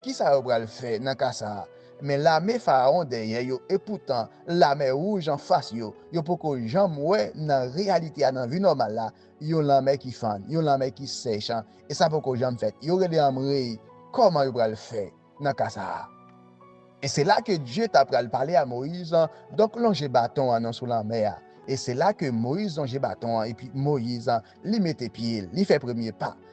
Kisa yo pral fè nan ka sa a? Men lame Faraon dèyè yo epoutan Lamè Wouj anfas yo, yo poko janm wè nan reyalite a nan vi nòmal la yon lanmè ki fann, yon lanmè ki sèch an e sa poko janm fèt. Yo rele anmreyy kòman yo pral fè nan ka sa a? E se la ke Dye ta pral pale a Moyiz, Donk lonje baton an non sou lanmè a. E se la ke Moyiz lonje baton an epi Moyiz Li mete pye l, li fè premye pa l.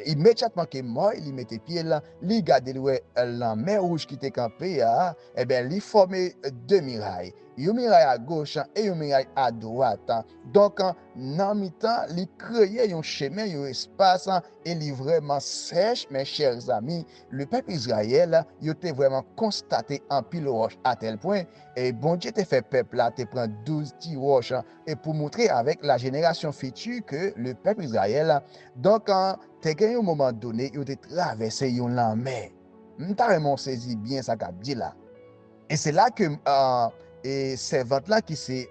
Imedyatman ke Mòy li mete pye l, li gade li wè lanmè wouj ki te kanpe a, enben li fòme de miray. Yon miray a goch e yon miray a dwat. Donk, nan mitan, li kreye yon chemen, yon espas, e li vrèman sèch, men chers amis, le pèp Israël, yo te vrèman konstate anpil wòch atèlpwen, e Bondye te fè pèp la te pran douz ti wòch e pou moutre avèk la jenerasyon fiti ke le pèp Izrayèl, donk, te gen yon moman done yo te travèse yon lanmè. M ta renmen w sezi byen sa kap di la. E se la ke e sèvant la ki se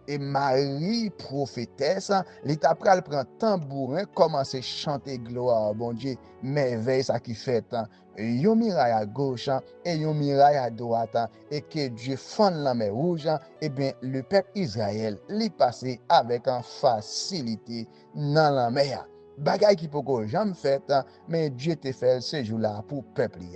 e mari pwofetès, li ta pral pran tanbouren kòmanse chante glwa a Bondye, mèvèy sa ki fèt. yon miray a goch an, e yon miray a dwat an, e ke Dye fann lanmè wouj an, ebyen le pèp Izrayèl li pase avèk an fasilite nan lanmè a. Bagay ki poko janm fèt, men Dye te fèl se jou la pou pèp li.